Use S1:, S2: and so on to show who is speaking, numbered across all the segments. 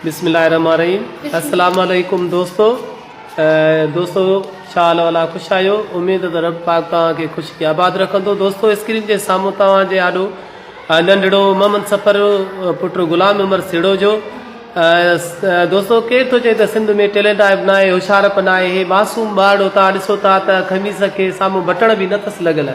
S1: بسم الله الرحمن الرحيم السلام عليڪم دوستو دوستو شاء الله ولا خوش آيو اميد ته رب پاڪ توهان کي خوش کي آباد رکندو دوستو اسڪرين جي سامهون توهان جي آڏو ننڍڙو محمد سفر پٽ غلام عمر سيڙو جو دوستو ڪير ٿو چئي ته سنڌ ۾ ٽيلنٽ آئب نہ آهي هوشيارپ نہ آهي معصوم ٻارڙو تان ڏسو ٿا ته خميس کي سامهون بٽڻ به نه اٿس لڳل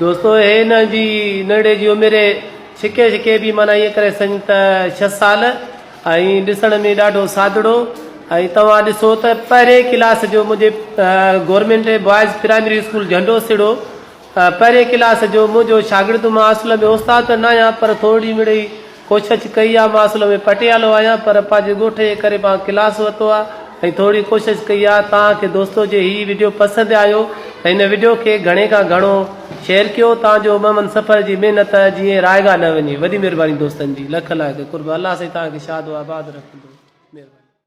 S1: دوستو هي هن جي نڙي جي عمر ڇڪي ڇڪي به معنيٰ ائين ڪري سڃ ته ڇهه سال ۽ ڏسڻ ۾ ڏاڍو سادڙو ۽ توهان ڏسو ته پهرين ڪلاس جو منهنجي government boys primary school Jhando Siro پهرين ڪلاس جو منهنجو شاگرد مان اصل ۾ استاد ته نه آهيان پر ٿورڙي مڙئي ڪوشش ڪئي آ مان اصل ۾ پٽيالو آهيان پر پنهنجي ڳوٺ جي ڪري مان ڪلاس ورتو آ ۽ ٿوري ڪوشش ڪئي آ تان کي دوستو جي هي وڊيو پسند آيو ته هن وڊيو کي گهڻي کان گهڻو شيئر ڪيو تان جو ممن سفر جي محنت جيئن رائگا نه وڃي وڏي مهرباني دوستن جي لک لاک قرب الله سائين تان کي شاد و آباد رکندو مهرباني.